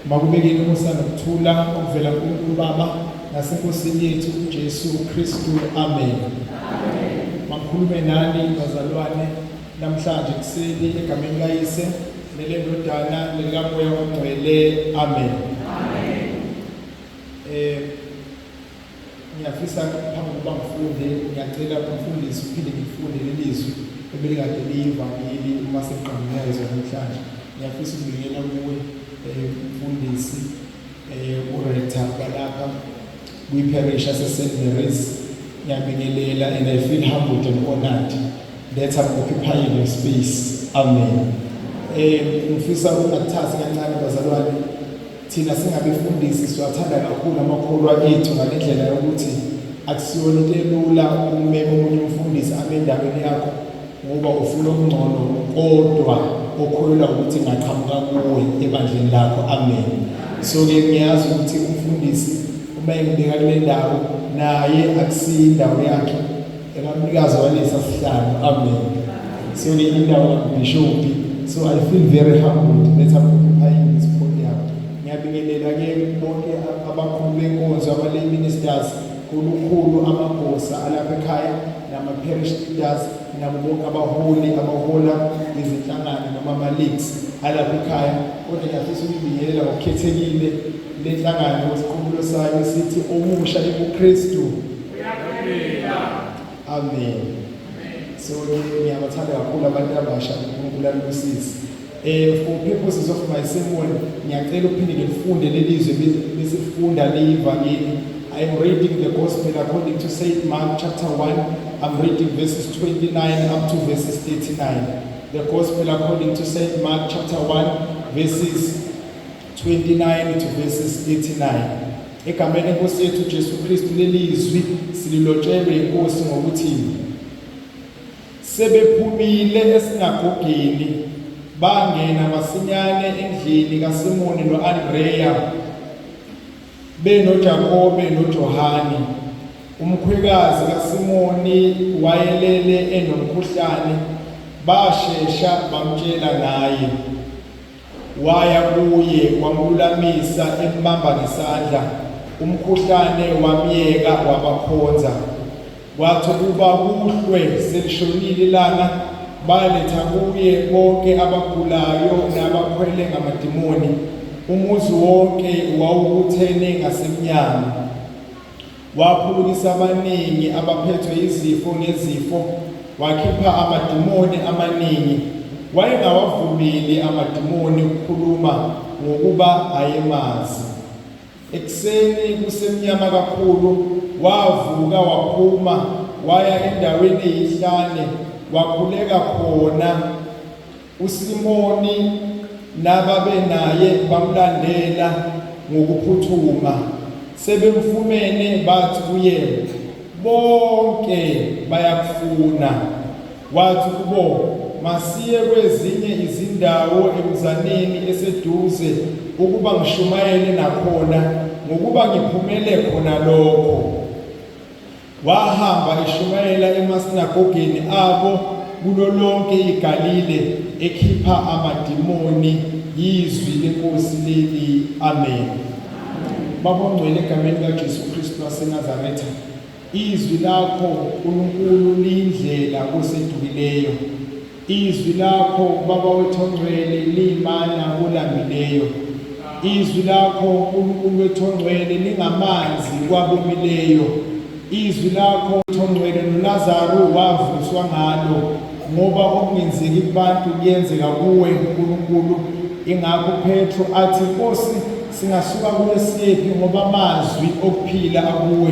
makubekeni umusa nokuthula okuvela kuNkulunkulu Baba nasenkosini yethu uJesu Kristu amen makhulume nani bazalwane namhlanje kuseni egameni likayise nelendodana nelikamoya ongcwele amen Ngiyafisa ngaphambi kokuba ngifunde, ngiyacela umfundisi uphinde ngifunde lelizwi ebelikade liyivangeli uma sekuqangunezwa namhlanje. Ngiyafisa ukubingelela kuwe eh, umfundisi eh, uRector balapha kwi-parish yaseSt Mary's. Ngiyabingelela and I feel humbled and honored that I'm occupying your space. Amen. Eh, ngifisa ukungathathi kancane bazalwane Thina singabefundisi siwathanda kakhulu amakholwa ethu ngale ndlela yokuthi akusiyona into elula ukumema omunye umfundisi abe endaweni yakho ngoba ufuna okungcono kodwa okholelwa ukuthi ngaqhamuka kuwe ebandleni lakho amen so-ke ngiyazi ukuthi umfundisi uma engibeka kule ndawo naye akusiyo indawo yakhe Engamnikazi walesa sihlalo. Amen. So ni indawo kaBishop. So I feel very humbled that I'm occupying this podium. Ngiyabingelela ke bonke abakhulu benkonzo abale ministers kulukhulu amagosa alapha ekhaya nama parish leaders nabo bonke abaholi abahola izinhlangano noma ama leagues alapha ekhaya kodwa ngiyafisa ukubingelela ngokukhethekile lenhlangano isikhumulo sayo sithi omusha ebuKristu Amen. So ngiyabathanda kakhulu abantu abasha uNkulunkulu alusize. Eh for purposes of my sermon ngiyacela ukuphinde ngifunde lelizwe besifunda leyivangeli. I am reading the gospel according to St Mark chapter 1. I'm reading verses 29 up to verses 39. The gospel according to St Mark chapter 1 verses 29 to verses 39 egameni enkosi yethu uJesu Kristu lelizwi sililotshelwe inkosi ngokuthi sebephumile esinagogeni bangena masinyane endlini kaSimoni noAndreya benoJakobe noJohane umkhwekazi kaSimoni wayelele enomkhuhlane bashesha bamtshela ngaye Waya kuye wamlulamisa embamba ngesandla, umkhuhlane wamyeka wabakhonza. Kwathi ukuba kuhlwe selishonile ilanga, baletha kuye bonke abagulayo nabakhwele ngamadimoni. Umuzi wonke wawubuthene ngasemnyango. Waphulukisa abaningi abaphethwe yizifo ngezifo, wakhipha amadimoni amaningi. Wayengawavumeli amadimoni ukukhuluma ngokuba ayemazi. Ekuseni kusemnyama kakhulu, wavuka waphuma waya endaweni eyihlane wakhuleka khona. USimoni nababenaye bamlandela ngokuphuthuma, sebemfumene bathi kuye, Bonke bayakufuna. Wathi kubo, Masiye kwezinye izindawo emzaneni eseduze ukuba ngishumayele nakhona ngokuba ngiphumele khona lokho. Wahamba eshumayela emasinagogeni abo kulo lonke iGalile, ekhipha amadimoni yizwi lenkosi leli. Amen. Baba ongcwele, egameni likaJesu Kristu waseNazaretha, izwi lakho uNkulunkulu liyindlela kosedukileyo. Izwi lakho Baba wethu ongcwele liyimana kolambileyo. Izwi lakho Nkulunkulu wethu ongcwele lingamanzi kwabomileyo. Izwi lakho ongcwele noLazaru wavuswa ngalo ngoba okungenzeki kubantu kuyenzeka kuwe Nkulunkulu. Ingakho Petro athi Nkosi singasuka kuwe siyephi ngoba amazwi okuphila akuwe.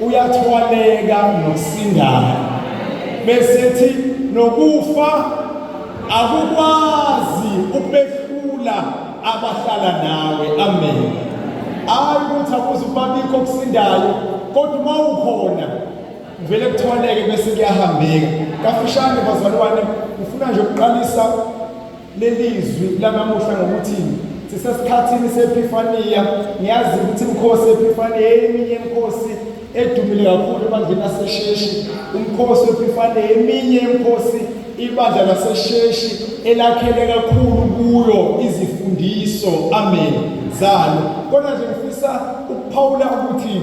uyathwaleka nosindayo besethi nokufa akukwazi ukubehlula abahlala nawe amen hayi ukuthi akuze ukubabikho okusindayo kodwa uma ukhona kuvele kuthwaleke bese kuyahambeka kafushane bazalwane ngifuna nje ukuqalisa lelizwi lanamuhla ngokuthi sisesikhathini sephifaniya ngiyazi ukuthi umkhosi ephifaniya eminye imkhosi edumile kakhulu ebandleni lasesheshi umkhosi wephifaniya eminye imkhosi ibandla lasesheshi elakhele kakhulu kuyo izifundiso amen zalo kodwa nje ngifisa ukuphawula ukuthi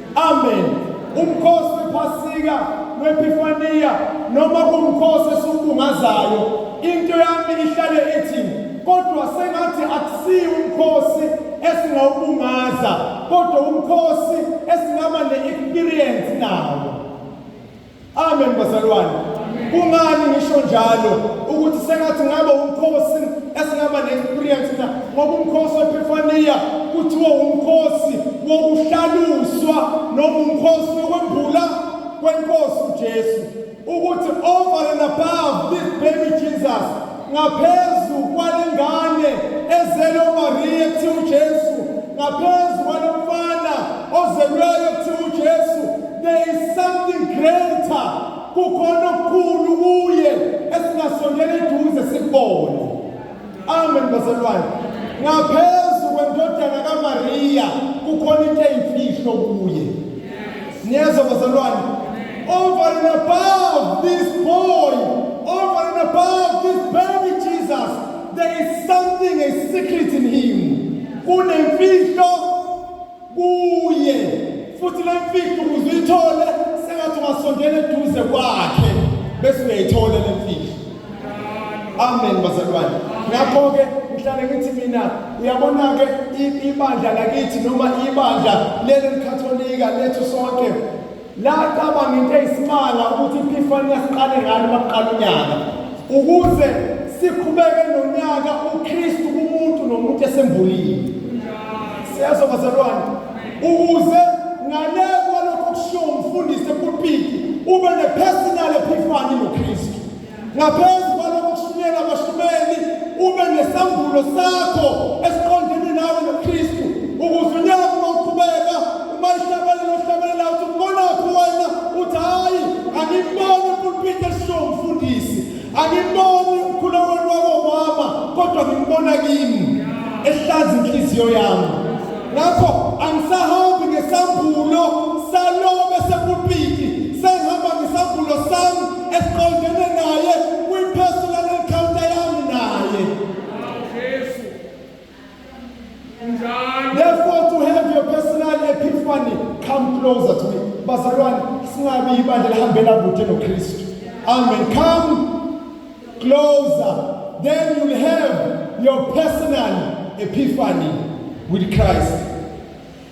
Amen. Umkhosi wephasika wepifaniya noma kumkhosi esiwubungazayo into yami ihlale ithi kodwa sengathi akusiyi umkhosi esingawubungaza kodwa umkhosi esingaba ne-experience nawo Amen bazalwane. Kungani ngisho njalo ukuthi sengathi ngabe umkhosi esingaba ne-experience na ngoba umkhosi wePhifania kuthiwa umkhosi wokuhlaluswa noma umkhosi wokwembula kwenkosi uJesu ukuthi over and above this baby Jesus Ngaphezu kwalengane ezelwe uMariya kuthiwa uJesu, ngaphezu kwalomfana ozelweyo kuthiwa uJesu, there is something greater. Kukhona okukhulu kuye esingasondela eduze sikubone. Amen bazalwane. Ngaphezu kwendodana kaMariya kukhona into eyimfihlo kuye. niyezwa bazalwane over and above this boy over and above this baby jesus there is something a secret in him kunemfihlo kuye futhi le mfihlo ukuze uyithole sengathi ungasondela eduze kwakhe bese uyayithola le mfihlo amen bazalwane ngakho-ke ngihlale ngithi mina uyabona-ke ibandla lakithi noma ibandla leli likatholika lethu sonke laqaba ngento eyisimanga ukuthi iphifani yasiqale ngani bakuqala unyaka ukuze siqhubeke nonyaka ukristu kumuntu nomuntu esembulile siyezwa bazalwane ukuze ngale kwalokho kushiwo umfundisi epulpiti ube ne-personal ephifani nokristu Ngaphezu kwalokho kushunyelwa abahlumeli ube nesambulo sakho esiqondene nawe noKristu ukuze unyaka uma uqhubeka uma ihlabelela ohlabelela uthi umbonaphi wena uthi hhayi angimboni ipulpiti elishiwo umfundisi angimboni umkhulekweni wakomama kodwa ngimbona kimi ehlaza inhliziyo yami ngakho angisahambi ngesambulo salobe sepulpiti sengihamba ngesambulo sami esiqondene naye kwi-personal encounter yami naye Jesu njalo therefore to have your personal epiphany come closer to me bazalwane singabi ibandla lihambela kude nokristu amen come closer then you'll have your personal epiphany with christ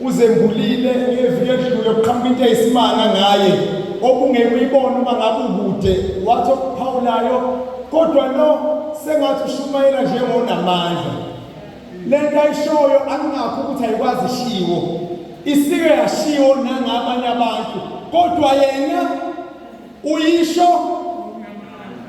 Uzembulile ngeviki edlule kuqhamuka into eyisimanga ngaye okungeke uyibone uma ngabe ukude wathi okuphawulayo kodwa lo sengathi ushumayela njengonamandla le nto ayishoyo angingakho ukuthi ayikwazi ishiwo isike yashiwo nangabanye abantu kodwa yena uyisho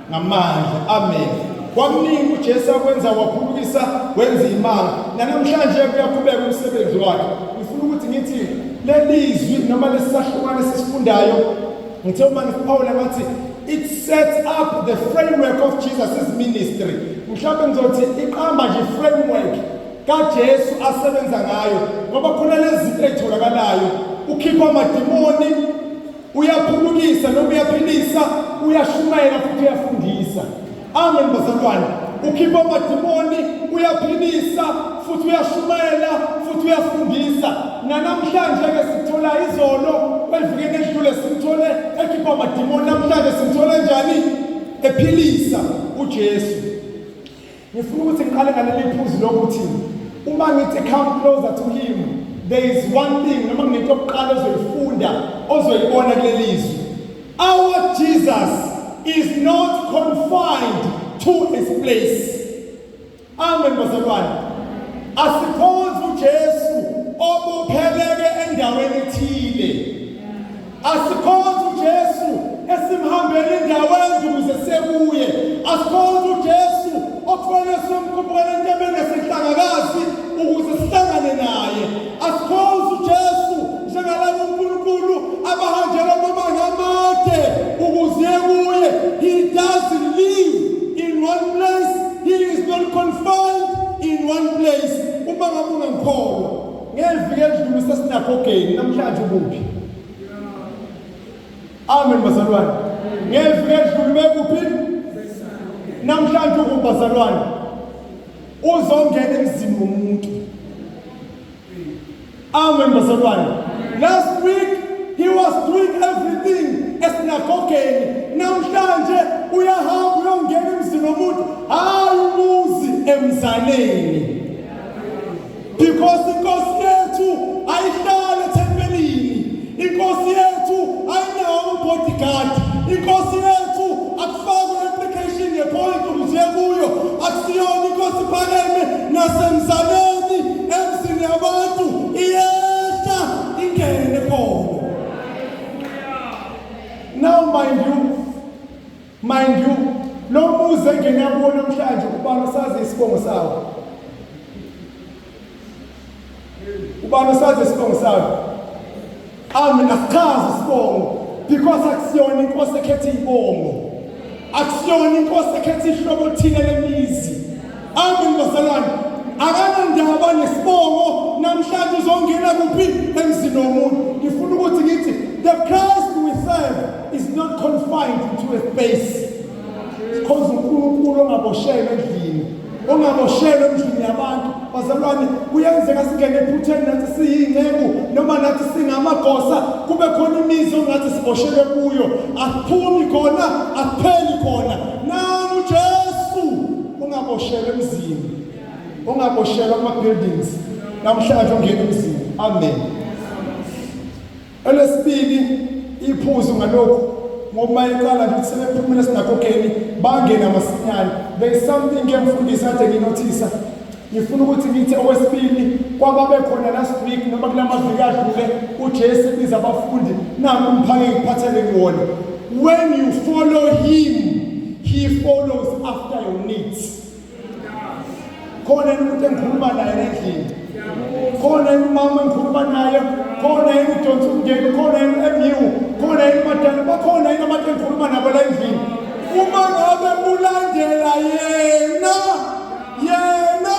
ngamandla amen kwakuningi uJesu akwenza waphulukisa wenza imanga nanamhlanje kuyaqhubeka umsebenzi wakhe ngifuna ukuthi ngithi lelizwi noma lesisahlukane sisifundayo ngithe uma ngiphawula ngathi it sets up the framework of Jesus' ministry mhlawumbe ngizothi iqamba nje framework kaJesu asebenza ngayo ngoba khona lezi zinto ezitholakalayo ukhipha amadimoni uyaphulukisa noma uyaphilisa uyashumayela futhi uyafundisa amen bazalwane ukhipha amadimoni uyaphilisa futhi uyashumayela futhi uyafundisa nanamhlanje-ke sithola izolo kwelivikeni edlule simthole ekhipha amadimoni namhlanje simthole njani ephilisa ujesu Ngifuna ukuthi ngiqale ngaleli phuzu lokuthi uma ngithi come closer to him there is one thing noma nginento yokuqala ozoyifunda ozoyibona kuleli zwi our jesus is not confined to his place amen bazalwane asikhonzi ujesu obopheleke endaweni ethile Asikhonze uJesu esimhambela indawo enje ukuze sekuye. Asikhonze uJesu okufanele somkhuphukela entebeni esihlangakazi ukuze sihlangane naye. Asikhonze uJesu njengalabo uNkulunkulu abahanjelwa amabanga amade ukuze kuye. He doesn't live in one place. He is not confined in one place. Uma ngabe ungangikholwa Ngeviki edlule usesinagogeni namhlanje ukuphi? Amen bazalwane. Ngeviki edlule bekuphi? Namhlanje ukuphi bazalwane? Uzongena emzini womuntu. Amen bazalwane. Last week he was doing everything esinagogeni. Namhlanje uyahamba uyongena emzini womuntu. Hayi umuzi emzaleni. because inkosi yethu ayihlale thempelini inkosi yethu ayinawo ubodyguard inkosi yethu akufakwe application yepolice umje kuyo akusiyona inkosi phakeme nasemzaleni emzini yabantu iyehla ingene khona now mind you Mind you, lo muzi engena kuwo namhlanje ubani osazi isibongo sawo? Ubani osazi isibongo sawo? Amen, asichazi isibongo because akusiyona inkosi ekhetha ibongo. Akusiyona inkosi ekhetha ihlobo thile lemizi. Amen bazalwane. Akanandaba nesibongo namhlanje uzongena kuphi emzini womuntu. Ngifuna ukuthi ngithi the Christ we serve is not confined to a space. Because uNkulunkulu ongaboshelwe endlini, ongaboshelwe endlini yabantu. Bazalwane, kuyenzeka singene ephutheni nathi siyinceku noma nathi singamagosa kube khona imizi ongathi siboshelwe kuyo. Asiphumi khona, asipheli khona. ungaboshelwa emzini ungaboshelwa ama-buildings namhlanje ungena emzini amen elesibili iphuzu ngalokhu ngoba iqala nje sebephumile esinagogeni bangena masinyane there is something ke mfundisi ade nginothisa ngifuna ukuthi ngithi okwesibili kwababekhona last week noma kula maviki adlule ujesu biza abafundi nami umphake ngiphathele kuwona when you follow him he follows after your needs khona umuntu engikhuluma naye endlini khona umama engikhuluma naye khona yini udonsa umndeni khona yini emiwu khona yini madala bakhona yini abantu engikhuluma nabo la endlini uma ngabe ulandela yena yena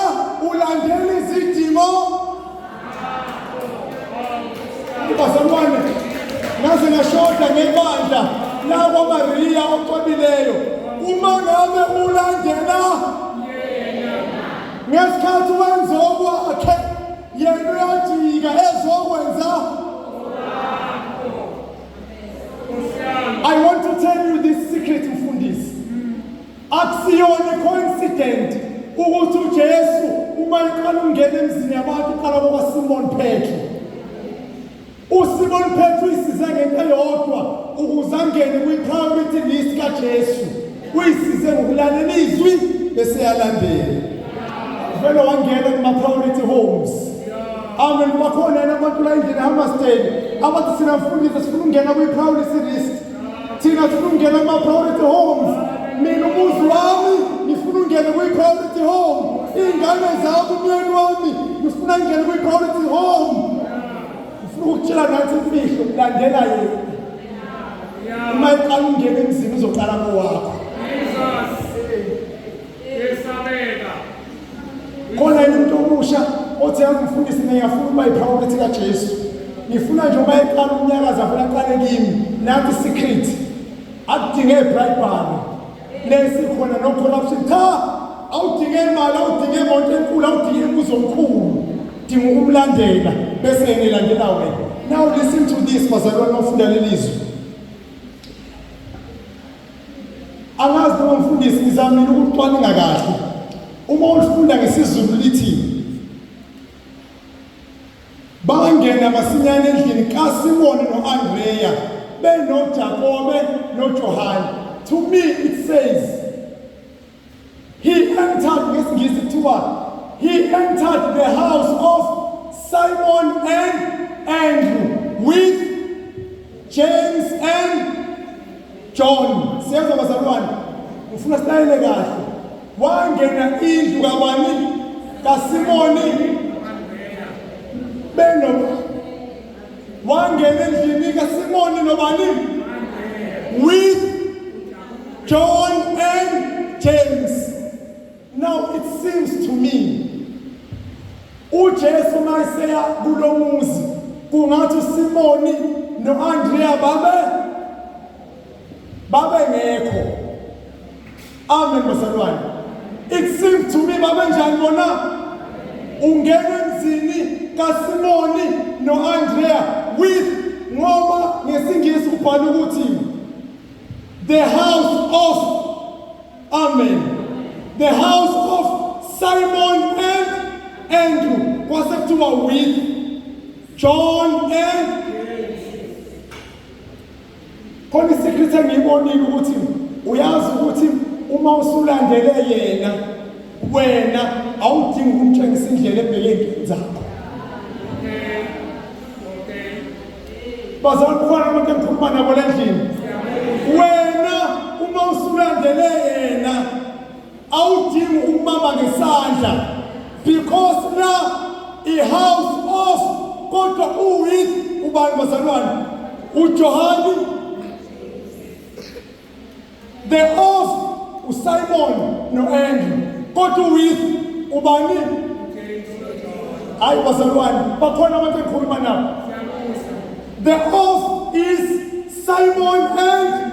ulandela izidingo bazalwane ngaze ngashoda ngebandla lakwamariya ocwebileyo uma ngabe ulandela ngesikhathi wenza okwakhe yena uyajika ezokwenza I want to tell you this secret Akusiyona coincident ukuthi uJesu uma eqala ungena emzini yabantu uqala kwa Simon Petro. USimon Petro isize ngento eyodwa ukuze angene kwi-priority list kaJesu. Uyisize ngokulalela izwi bese yalandela. Vele wangena kuma-priority homes. Amen bakhona yena abantu la endlini eHammarsdale abathi sina mfundisi sifuna ukungena kwi-priority list. thina sifuna ukungena kuma-priority homes mina umuzi wami ngifuna ungene kwi-priority home iy'ngane zami umyeni wami ngifuna ngingene kwi-priority home ngifuna ukutshela nathi imfihlo kulandela yena uma iqala ungena emzini uzoqala kowakho khona yini umuntu omusha othi angifundisi niyafuna ukuba yiphawulethi kajesu ngifuna nje uba eqala umnyakazi afuna aqale kimi nathi secret akudinge ibhayibhalo lesikhona no-corruption cha awudinge imali awudinge imoto enkulu awudinge imbuzo omkhulu dinga ukumlandela bese ngilandela wena now listen to this bazalwane ofunda lelizwi Angazi noma mfundisi ngizamile ukucwaninga kahle. Uma ulifunda ngesiZulu lithi bangena masinyane endlini kaSimoni noAndreya benoJakobe noJohane. To me it says He entered ngesingisi kuthiwa he entered the house of Simon and Andrew with James and John siyezwa bazalwane ngifuna silayele kahle wangena indlu kabani kaSimoni beno wangena endlini kaSimoni nobani with John and James now it seems to me uJesu mayeseya kulomuzi kungathi uSimoni noAndrea babe babengekho amen bazalwane it seems to me babenjani bona ungena emzini kaSimoni noAndrea with ngoba ngesingisi ubhala ukuthi the house of amen the house of Simon and Andrew kwase kuthiwa with John and khona isikrithi engiyibonile ukuthi uyazi ukuthi uma usulandele yena wena awudingi ukumtshengisa indlela ebheke ey'ntweni zakho bazali kukhona abantu engikhuluma nabo le ndlini wena uma usulandele yena awudingi ukubamba ngesandla because na i-house of kodwa uwith ubani bazalwane ujohani the of usimon no-andrew kodwa uwith ubani hayi bazalwane bakhona abantu engikhuluma nabo the of is simon and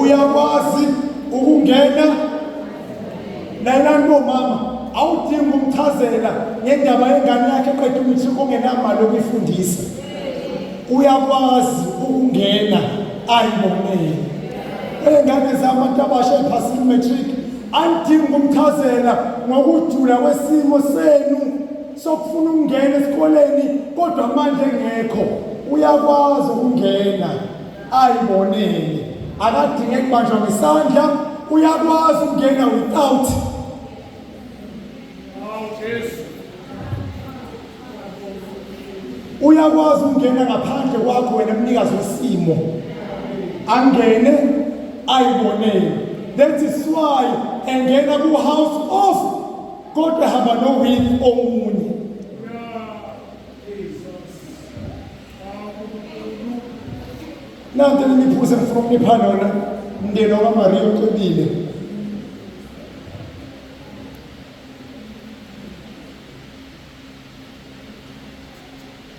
uyakwazi ukungena nalanto mama awudingi umchazela ngendaba yengane yakhe qeda ukuthi kungenamali okuyifundisa uyakwazi ukungena ayibonele ey'ngane zami abantu abasha ephasini matric andidingi ukumchazela ngokujula kwesimo senu sokufuna ukungena esikoleni kodwa manje engekho uyakwazi ukungena ayibonele akadinge kubanjwa ngesandla uyakwazi ukungena without uyakwazi ukungena ngaphandle kwakho wena mnikazi wesimo angene ayibonele that is why engena ku-house of kodwa hamba nowini omunye nanti nimiphuse ngifuna ukunipha lona mndeni wakamariya ucebile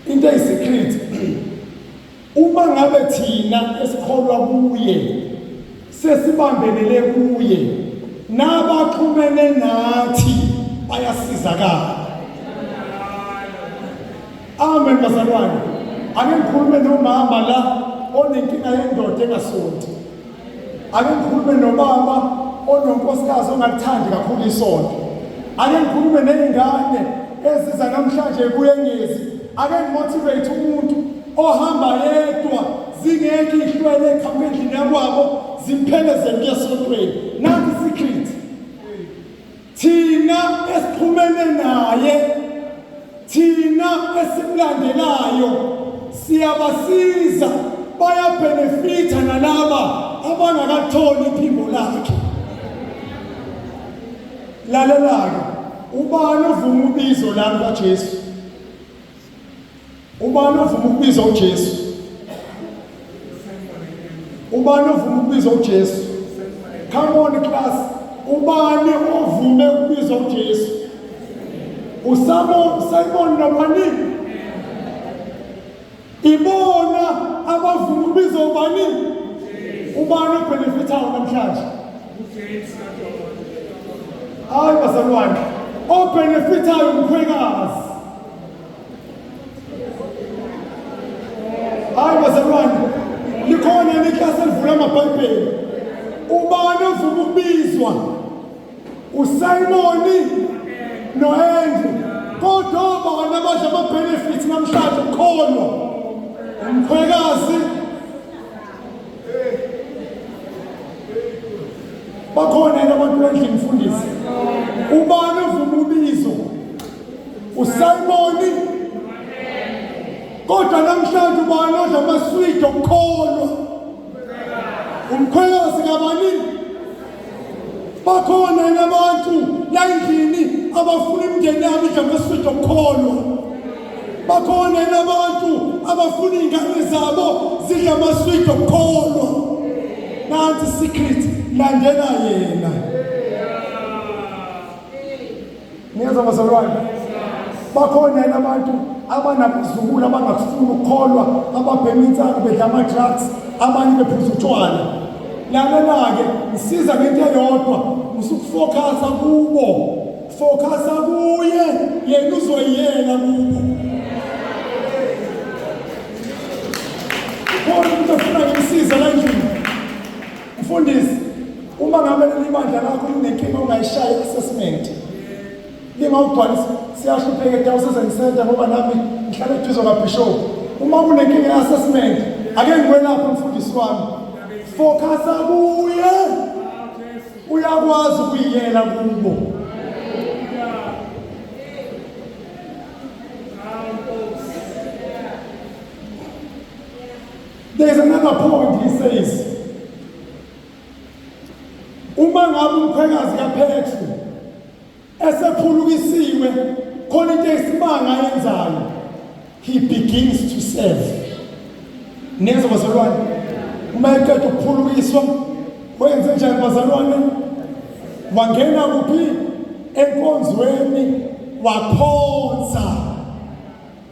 into eyisikrithi uma ngabe thina esikholwa kuye sesibambelele kuye nabaxhumene nathi bayasizakala amen bazalwane ake ngikhulume nomama la onenkinga yendoda engasonti ake ngikhulume nobaba ononkosikazi ongakuthandi kakhulu isonto ake ngikhulume ney'ngane eziza namhlanje kuyengezi ake ngimotivate umuntu ohamba yedwa zingekho ihlwele eqhamuka endlini yakwabo zimphelezele kuye esontweni nanti isikhithi Thina esixhumene naye, thina esimlandelayo siyabasiza bayabenefitha nalaba abangakatholi iphimbo lakhe. Lalela-ke, ubani ovuma ubizo lami kaJesu? Ubani ovuma ukubiza uJesu? Ubani ovuma ukubiza uJesu? Come on class. Ubani ovume ukubiza uJesu? Usabo Simon nobani? Ibona abavuma ukubiza ubani? Ubani obenefithayo namhlanje? UJesu. Hayi bazalwane, obenefithayo umkhwekazi. Hayi bazalwane, likhona neklasi elivula amabhayibheli. Ubani ovuma ukubizwa? USimoni no-Andrew. Kodwa obani abadla ama-benefits namhlanje ukukholwa? Umkhwekazi bakhona yena abantu bendlini mfundisi ubani ovuma ubizo usimoni kodwa namhlanje ubani odla amaswidi okukholwa umkhwelosi kabanini bakhona yini abantu la endlini abafuna imindeni yabo idamesifida okukholwa bakhona yini abantu abafuna iy'ngane zabo zidla amaswidi okukholwa nansi secret landela yena Niyeza bazalwane, bakhona yena abantu abanabazukulu abangakufuni ukukholwa, ababhema insangu bedla ama-drugs, abanye bephuza utshwala. Lalela-ke, ngisiza ngento eyodwa, ngisukufokhasa kubo, fokhasa kuye, yena uzoyiyela kubo. Khona umuntu ofuna ngimsiza la endlini. Mfundisi, uma ngabe leli bandla lakho linenkinga ungayishayi i-assessment. Lingawubhalisa siyahlupheka eDiocese Center ngoba nami ngihlala eduze kaBishop. Uma kunenkinga i-assessment, ake ngikwelaphe mfundisi wami. Focusa kuye. Uyakwazi ukuyiyela kubo. There is another point he says. Uma ngabe umkhwekazi kaPetru esephulukisiwe khona into esimanga ayenzayo he begins to serve. Niyezwa bazalwane? Uma eqeda ukuphulukiswa wenze njani bazalwane? Wangena kuphi? Enkonzweni wakhonza.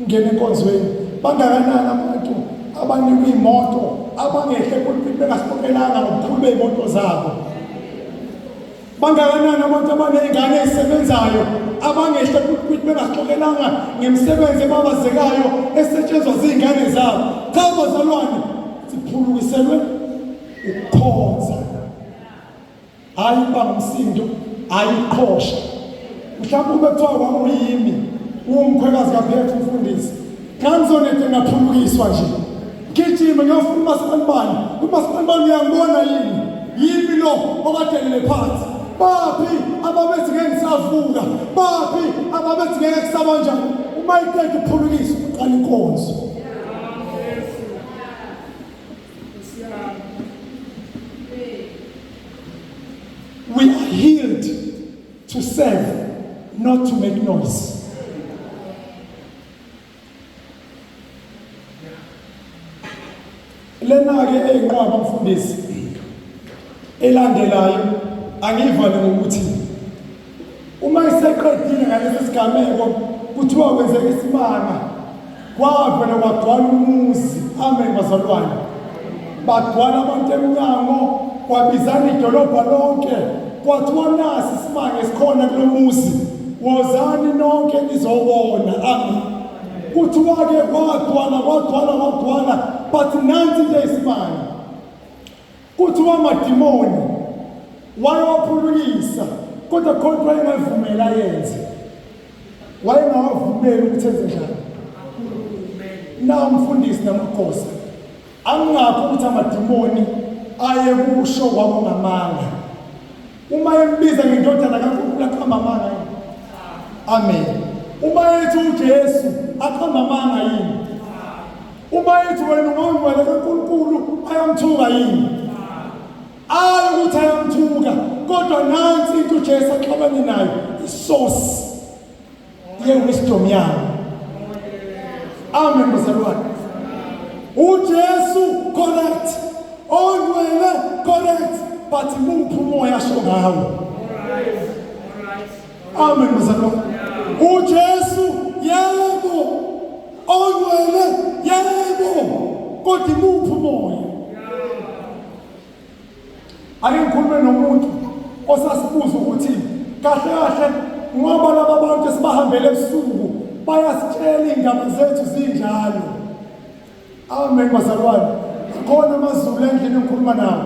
Ngena enkonzweni bangakanani abantu abanikwa imoto abangehle kuliphi bengasibonelanga ngobukhulu bey'moto zabo bangakanani abantu abaney'ngane ezisebenzayo abangehle kuliphi bengasixokelanga ngemisebenzi ebabazekayo esetshenzwa ziy'ngane zabo cha bazalwane siphulukiselwe ukukhonza hayi ukuba ngumsindo hayi ukuqhosha mhlawumbe ube kuthiwa wawuyimi uwumkhwekazi kaphetha umfundisi xa ngizonede ngaphulukiswa nje ngijime ngiyofuna umasipalibani umasipalibani uyangibona yini yimi lo okadelele phansi baphi ababethi ngeke ngisavuka baphi ababethi ngeke kusaba njani uma iqeda uphulukisa uqala inkonzo We are healed to serve, not to make noise. Lena-ke eyinqwaba mfundisi elandelayo angiyivale ngokuthi Uma iseqedile ngalesi sigameko kuthiwa kwenzeka isimanga kwavela kwagcwala umuzi amen bazalwane bagcwala abantu emnyango kwabizana idolobha lonke kwathiwa nasi isimanga esikhona kulo muzi wozani nonke nizobona amen kuthiwa-ke kwagcwala kwagcwala kwagcwala but nansi into eyisimanga Kuthiwa amadimoni wayewaphulukisa kodwa khona ukuthi wayengavumeli ayenze, wayengawavumeli ukuthi enze njani. Nawo umfundisi namakhosi angingakho ukuthi amadimoni ayekusho kwakungamanga uma embiza ngendodana kaNkulunkulu aqhamba amanga yini amen uma ethi uJesu aqhamba amanga yini Uma ethi wena ungangcwele kaNkulunkulu ayamthuka yini? Ayi ukuthi ayamthuka kodwa nansi into uJesu axabane nayo isource ye wisdom yakhe. Amen mzalwane. UJesu correct. Ongcwele correct but muphi umoya asho ngawo? Amen mzalwa. UJesu yebo. Ongwele yebo. Kodwa imuphi umoya? Ake ngikhulume nomuntu osasibuza ukuthi kahle kahle ngoba laba bantu esibahambele ebusuku bayasitshela indaba zethu zinjalo. Amen bazalwane. Khona amazulu endlini engikhuluma nawo.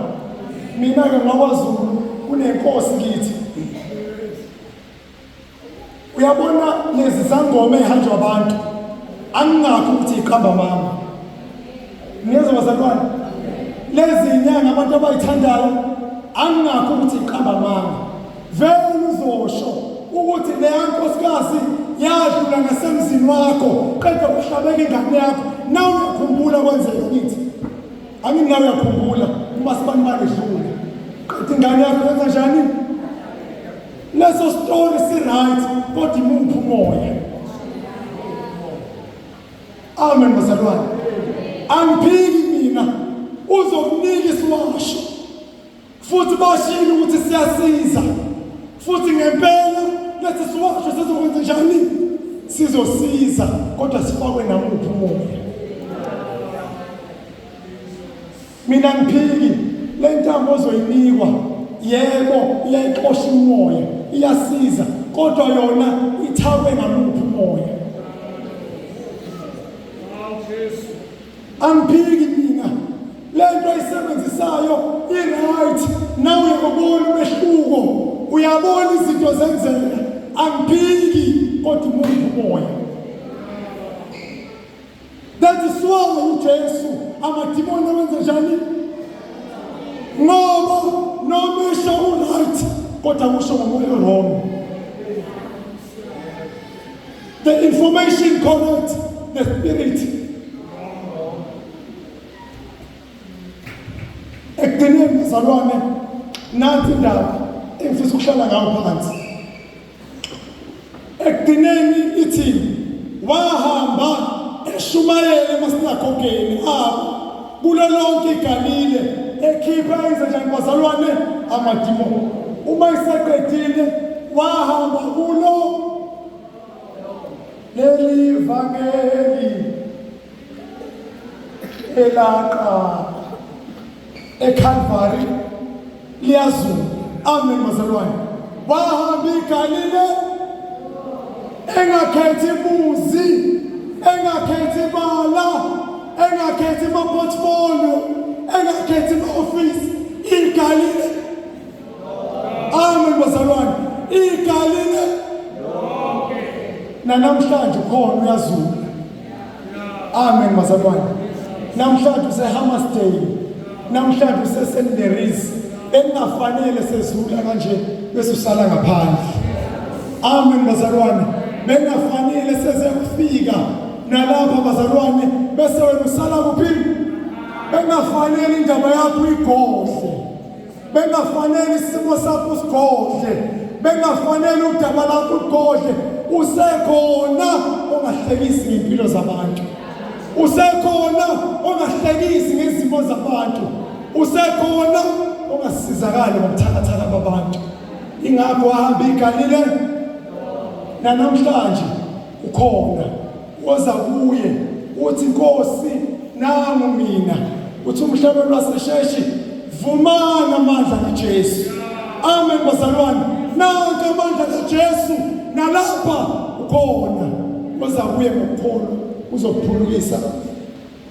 Mina ke ngakwaZulu kunenkosi kithi. Uyabona lezi zangoma ehanjwa abantu. Angingakho ukuthi iqamba mama. Niyezwa bazalwane? Lezi inyanga abantu abayithandayo angingakho ukuthi iqamba mama. vele uzosho ukuthi leya nkosikazi yadlula ngasemzini wakho qeda kuhlabeka ingane yakho nawe uyakhumbula kwenzeka kithi angini nawe uyakhumbula uma sibani balidlule qeda ingane yakho yenza njani leso story si-right kodwa imuphi umoya amen bazalwane angiphiki mina uzokunika isiwasho futhi bashilo ukuthi siyasiza futhi ngempela lethi siwasho sizokwenza njani sizosiza kodwa sifakwe namuphi umoya mina ngiphiki le ntambo ozoyinikwa yebo iyayixosha umoya iyasiza kodwa yona ithakwe ngamuphi umoya angiphiki mina lento ayisebenzisayo i-right nawe uyakubona umehluko uyabona izinto zenzeka angiphiki kodwa umuntu umoya that is why ujesu amadimoni awenza njani ngoba noma esho u-right kodwa kusho ngomoya wrong The information correct, the spirit. Ekugcineni bazalwane nansi indaba engifisa ukuhlala ngayo phansi. Ekugcineni ithi wahamba eshumayela emasinakhokeni abo kulo lonke igalile ekhipha izenjani bazalwane amadimoni uma iseqedile wahamba kulo leli vangeli elaqala eCalvary Liyazu. Amen mazalwane. Wahamba iGalile engakhethi muzi, engakhethi bala, engakhethi portfolio, engakhethi office. Igalile. Amen bazalwane. Igalile. Lonke. Nanamhlanje khona uyazula. amen bazalwane namhlanje usehammersdale namhlanje usesenderis engafanele sezula kanje bese usala ngaphandle amen bazalwane bengafanele sezekufika nalapha bazalwane bese wena usala kuphi bengafanele indaba yakho igodle bengafanele isimo sakho usigodle bengafanele udaba lakho ugodle usekhona ongahlekisi ngempilo zabantu usekhona ongahlekisi ngezimo zabantu usekhona ongasizakali ngobuthakathaka babantu ingakho ahamba igalile nanamhlanje Ukhona woza kuye uthi Nkosi nangu mina uthi umhlaba lwasesheshi vumana amandla kaJesu amen bazalwane nanke amandla kaJesu nalapha ukhona woza kuye ngokukholwa uzokuphulukisa